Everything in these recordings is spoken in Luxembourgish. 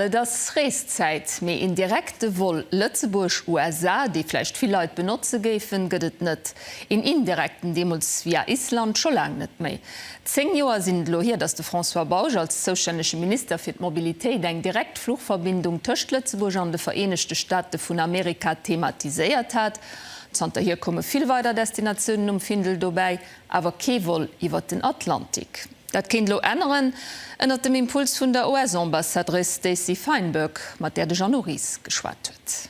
Et ass Reeszäit, mee een direkte Vol Lëtzebuerg, USA, dee vläicht vill Leit benotze géifen, gëtt et net. Een indirekten, deemools via Island, scho laang net méi. Zéng Joer sinn et elo hier, datt de François Bausch als zoustännege Minister fir d'Mobilitéit eng direkt Fluchverbindung tëscht Lëtzebuerg an de Vereenegte Staate vun Amerika thematiséiert hat. Zanterhier komme vill weider Destinatiounen um Findel dobäi. awer kee Vol iwwert den Atlantik. Dat kéint elo änneren, ënnert dem Impuls vun der US-Ambassadrice Stacey Feinberg, mat där de Jeannot Ries geschwat huet.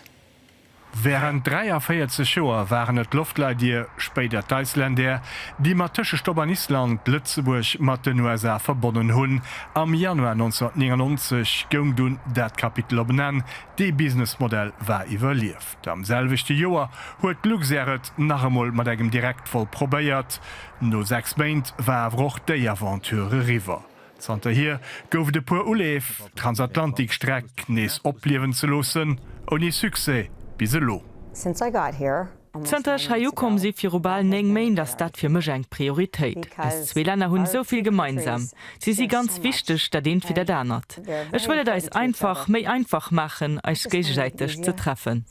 Wärend 43 Joer waren et d'Loftleidier, spéider d'Icelandair, déi mat Tëschestopp an Island Lëtzebuerg mat den USA verbonnen hunn. Am Januar 1999 goung dunn dat Kapitel op en Enn, dee Businessmodell war iwwerlief. Am selwechte Joer huet Luxair et nach emol mat engem Direktvol probéiert. No 6 Méint war awer och déi Aventure eriwwer. Zanterhier gouf et e puer Uleef, d'Transatlantikstreck nees opliewen ze loossen, ouni Succès bis elo. Zanter ech hei ukomm si viru bal 9 Méint ass dat fir mech eng Prioritéit. Eis zwee Länner hunn esou vill gemeinsam. Si si ganz wichteg, dat eent wéi dat anert. Ech wëll et eis einfach, méi einfach maachen, eis géigesäiteg ze treffen.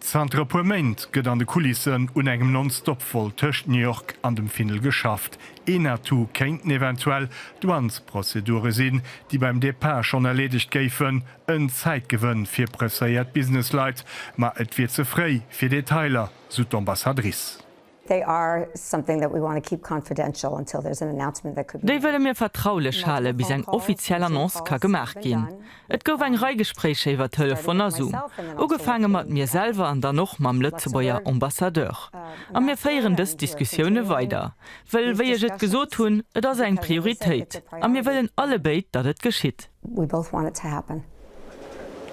Zanter e puer Méint gëtt an de Kulissen un engem Non-Stop-Vol tëscht New York an dem Findel geschafft. Een Atout kéinten eventuell Douanesprozedure sinn, déi beim Depart schonn erleedegt géifen. En Zäitgewënn fir presséiert Businessleit, ma et wier ze fréi fir Detailer, sou d'Ambassadrice. They are something that we want to keep confidential until there's an announcement that could be made. Déi wëlle mir vertraulech hale bis eng offiziell Annonce ka gemaach ginn. Et gouf eng Rei Gespréicher iwwer Telefon a Zoom, ugefaange mat mir selwer an dann och mam Lëtzebuerger Ambassadeur. A mir féieren dës Diskussioune weider, wëll, wéi ech et gesot hunn, et ass eng Prioritéit a mir wëllen allebéid, datt et geschitt. We both want it to happen.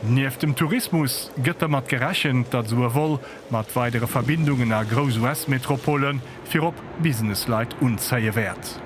Nieft dem Tourismus gëtt dermat gerechent, datt esou e Vol mat weidere Verbindungen a grouss US-Metropole virop Business-Leit unzéie wäert.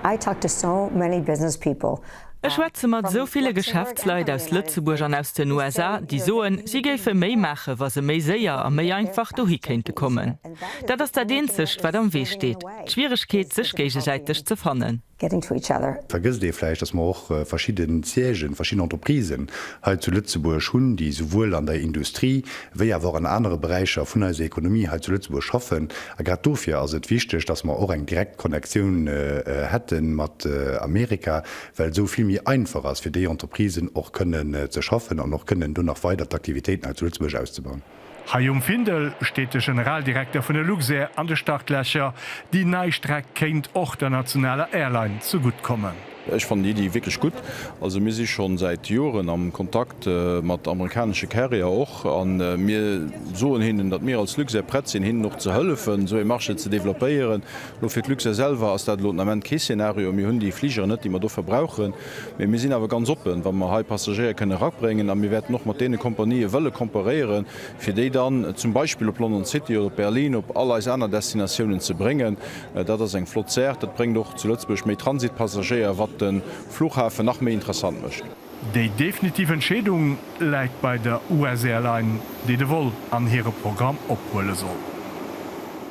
I talk to so many business people. Ech schwätze mat esou ville Geschäftsleit aus Lëtzebuerg an aus den USA, déi soen, si géife méi maachen, wa se méi séier a méi einfach dohi kéinte kommen. Dat ass dat Eenzegt, wat am Wee steet, d'Schwieregkeet, sech géigesäiteg ze fannen. getting to each other. Vergësst ee vläicht, dass mer och verschidden Siègen, verschidden Entreprisen hei zu Lëtzebuerg hunn, déi souwuel an der Industrie wéi awer och an anere Beräicher vun eiser Ekonomie hei zu Lëtzebuerg schaffen. A grad dofir ass et wichteg, dass mer och eng direkt Connectioun hätte mat Amerika, well esou vill méi einfach ass fir déi Entreprisen och kënnen ze schaffen an och kënnen do nach weider d'Aktivitéiten hei zu Lëtzebuerg auszubauen. Hei um Findel steet de Generaldirekter vun der Luxair an de Startlächer. Déi nei Streck kéint och der nationaler Airline ze gutt kommen. Ech fannen déi Iddi wierklech gutt. Also mir si schonn säit Joren am Kontakt mat amerikanesche Carrier och a mir soen hinnen, datt mir als Luxair prett sinn, hinnen och ze hëllefen, esou ee Marché ze developpéieren. Elo fir d'Luxair selwer ass dat elo den Ament kee Szenario. Mir hunn déi Fligeren net, déi mer dofir brauchen. Mee mir sinn awer ganz oppen, wa mer hei Passagéier kënnen erabréngen, a mir wäerten och mat deene Kompanië wëlle komparéieren, fir déi dann zum Beispill op London City oder op Berlin, op all eis aner Destinatiounen ze bréngen. Dat ass eng flott Saach. Dat bréngt och zu Lëtzebuerg méi Transitpassagéier, wat de Fluchhafen nach méi interessant mécht. Déi definitiv Entscheedung läit bei der US-Airline, déi de Vol an hire Programm ophuele soll.